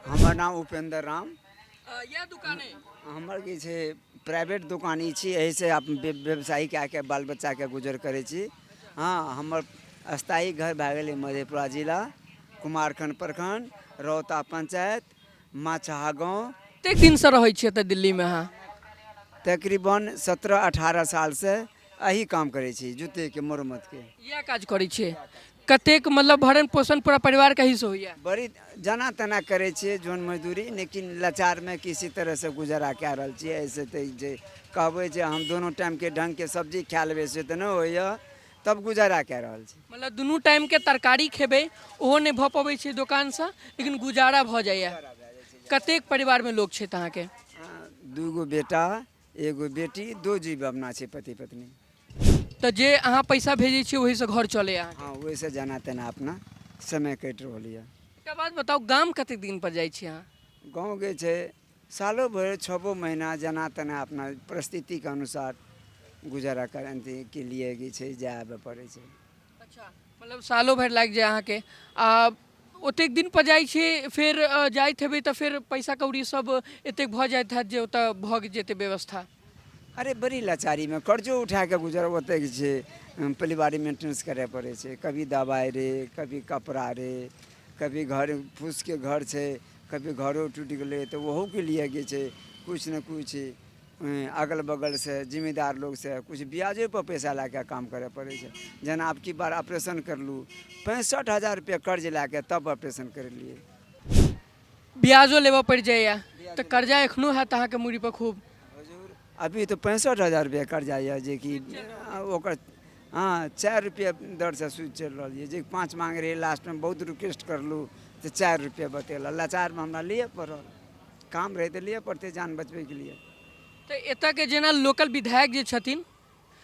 हमर नाम उपेन्द्र राम यह दुकान है हमर की छै प्राइवेट दुकान ई छी एहिसँ आप व्य- व्यवसाय कए के बाल बच्चाके गुजर करै छी हँ हमर स्थायी घर भए गेलै मधेपुरा जिला कुमारखंड प्रखंड रौता पंचायत माछहा गाँव कतेक दिन से रहै छियै एतऽ दिल्ली में अहाँ तकरीबन सत्रह अठारह सालसँ एही काम करै छी जूतेके मरम्मतके इएह काज करै छियै कतेक मतलब भरण पोषण पूरा परिवार कहीं से होइए बड़ी जना तना करै छियै जोन मजदूरी लेकिन लाचारमे किसी तरहसँ गुजारा कए रहल छियै एहिसँ तऽ ई जे कहबै जे हम दुनू टाइमके ढङ्गके सब्जी खा लेबै से तऽ नहि होइए तब गुजारा कए रहल छी मतलब दुनू टाइमके तरकारी खेबै ओहो नहि भऽ पबै छै दोकानसँ लेकिन गुजारा भऽ जाइए कतेक परिवारमे लोक छथि अहाँके आ, दूगो बेटा एगो बेटी दो जीव अपना छै पति पत्नी तऽ जे अहाँ पैसा भेजै छियै ओहीसँ घर चलैए अहाँके हँ ओहिसँ जेना तेना अपना समय कटि रहल यऽ एकटा बात बताउ गाम कतेक दिन पर जाइ छी अहाँ गाँव के छै सालो भरि छओ महीना जेना तेना अपना परिस्थितिके अनुसार गुजारा करैके लिए जे छै जाय आबय पड़ै छै अच्छा मतलब सालो भरि लागि जाए अहाँके आ ओतेक दिन पर जाइ छी फेर अ, जाइत हेबै तऽ फेर पैसा कौड़ी सब एतेक भऽ जाइत हैत जे ओतऽ भऽ जेतै व्यवस्था अरे बड़ी लाचारी में कर्जो उठा के गुजर होते छै अम, परिवार मेंटेनेंस करे पड़े छै कभी दवाई रे कभी कपड़ा रे कभी घर फूस के घर छै कभी घरो टूट गेले तो वहू के लिए गे छै कुछ न कुछ अगल बगलसँ जिम्मेदार लोकसँ किछु ब्याजोपर पैसा लए कऽ काम करय पड़ै छै जेना आब की बार ऑपरेशन करलहुँ पैंसठि हजार रुपैआ कर्ज लए कऽ तब ऑपरेशन करलियै ब्याजो लेबऽ पड़ि जाइए तऽ कर्जा एखनो हैत अहाँके मूड़ीपर खूब अभी तऽ पैंसठि हजार रुपैआ कर्जा यए जेकि ओकर हँ चारि रुपैआ दरसँ सूद चलि रहल यए जे पाँच माँगै रहै लास्टमे बहुत रिक्वेस्ट करलहुँ तऽ चारि रुपैआ बतेलक लाचारमे हमरा लिए पड़ल काम रहै तऽ लिअ पड़तै जान बचबैके लिए तऽ एतऽके जेना लोकल विधायक जे छथिन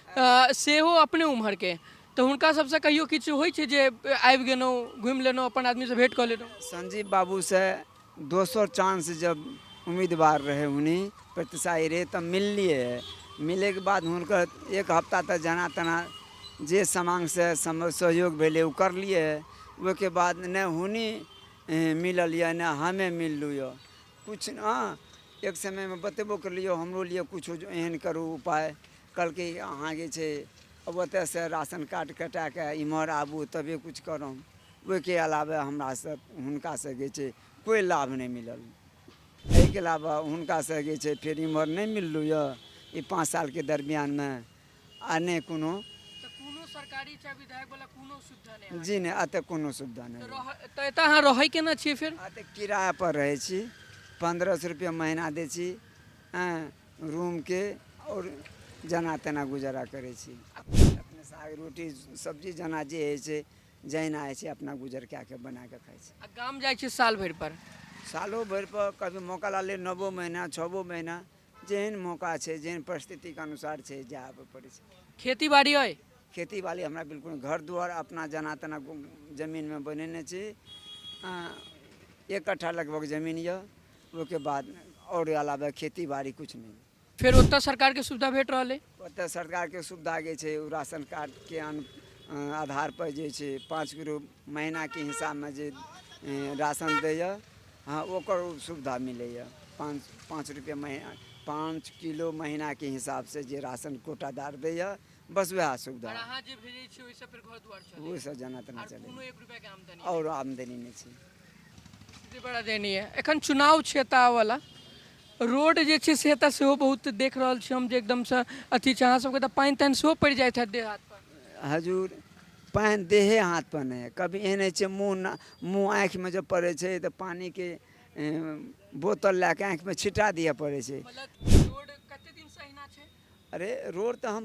अ, सेहो अपने उम्हरके तऽ हुनका सबसँ कहियो किछु होइ छै जे आबि गेलहुँ घुमि लेलहुँ अपन आदमीसँ भेँट कऽ लेलहुँ संजीव बाबू से दोसर चांस जब उम्मीदवार रहे उन्हीं प्रतिशाही रहे तब मिललिए है मिले के बाद हुनकर एक हफ्ता तक जना तना जे समांग से सम- सहयोग भेले उ करलिए है ओहिके बाद ने हुनी अहें मिलल यऽ ने हमे मिललू यऽ कुछ अहाँ एक समय मे बतेबो करली यऽ हमरो लिए कुछो एहन करू उपाय कहलकै अहाँ जे छै अब ओतऽ से राशन कार्ड कटा कऽ इम्हर आबू तबे कुछ करब ओहिके अलावे हमरा से हुनका से जे छै कोइ लाभ नहि मिलल एहिके अलावा हुनका से जे छै फेर इम्हर नहि मिललू यऽ ई पाँच साल के दरमियान मे आ नहि कोनो तऽ कोनो सरकारी चाहे विधायक वाला कोनो सुविधा नहि अहाँके? जी नहि एतऽ कोनो सुविधा नहि तऽ रह- तऽ एतऽ अहाँ रहै केना छियै फेर एतऽ किराया पर रहै छी पन्द्रह सए रुपया महीना दै छी हँ रूमके आओर जेना तेना गुजारा करै छी अपने साग रोटी सब्जी जेना जे होइ छै जहिना होइ छै अपना गुजर कए कऽ बना कऽ खाइ छी आ गाम जाइ छियै साल भरि पर सालो भरि पर कभी मौका लागलै नओ महीना छओ महीना जेहन मौका छै जेहन परिस्थितिके अनुसार छै जाए आबऽ पड़ै छै खेती बाड़ी अइ खेती बाड़ी हमरा बिल्कुल नहि। घर दुआर अपना जेना तेना गु- जमीनमे बनेने छी आ, एक कट्ठा लगभग जमीन यऽ ओहिके बाद आओर अलावे खेती बाड़ी किछु नहि फेर ओतऽ सरकारके सुविधा भेट रहल अइ ओतऽ सरकारके सुविधा जे छै ओ राशन कार्डके आधारपर जे छै पाँच किलो महीनाके हिसाबमे जे राशन दैए हँ ओकर सुविधा मिलैए पाँच पाँच रुपैए महीना पाँच किलो महीनाके हिसाबसँ जे राशन कोटादार दैए बस वएह सुविधा ओहिसँ जेना तेना चलै आओर आमदनी नहि छै स्थिति बड़ा दयनीय है एखन चुनाव छै एतऽ आबऽवला रोड जे छै से एतऽ सेहो बहुत देख रहल छी हम जे एकदमसँ अथी छै अहाँ सबके तऽ पानि तानि सेहो पड़ि जाइत हैत देह हाथ पर हजूर पानि देहे हाथ पर नहि है कभी एहन होइ छै मुँह ना मुँह आँखिमे जब पड़ै छै तऽ पानिके ए, बोतल लए कऽ आँखिमे छिटा दिअ पड़ै छै मतलब रोड कते दिनसँ अहिना छै अरे रोड तऽ हम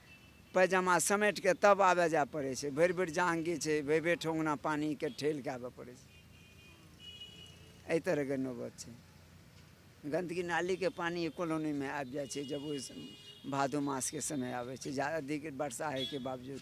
पैजामा समेटि कऽ तब आबय जाय पड़ै छै भरि भरि जाँग घीच छै भरि भरि ठोंगना पानिके ठेल कऽ आबय पड़ै छै एहि तरहके नौबत छै गन्दगी नालीके पानि कॉलोनीमे आबि जाइ छै जब ओहि भादो मासके समय आबै छै जादा अधिक वर्षा होइके बावजूद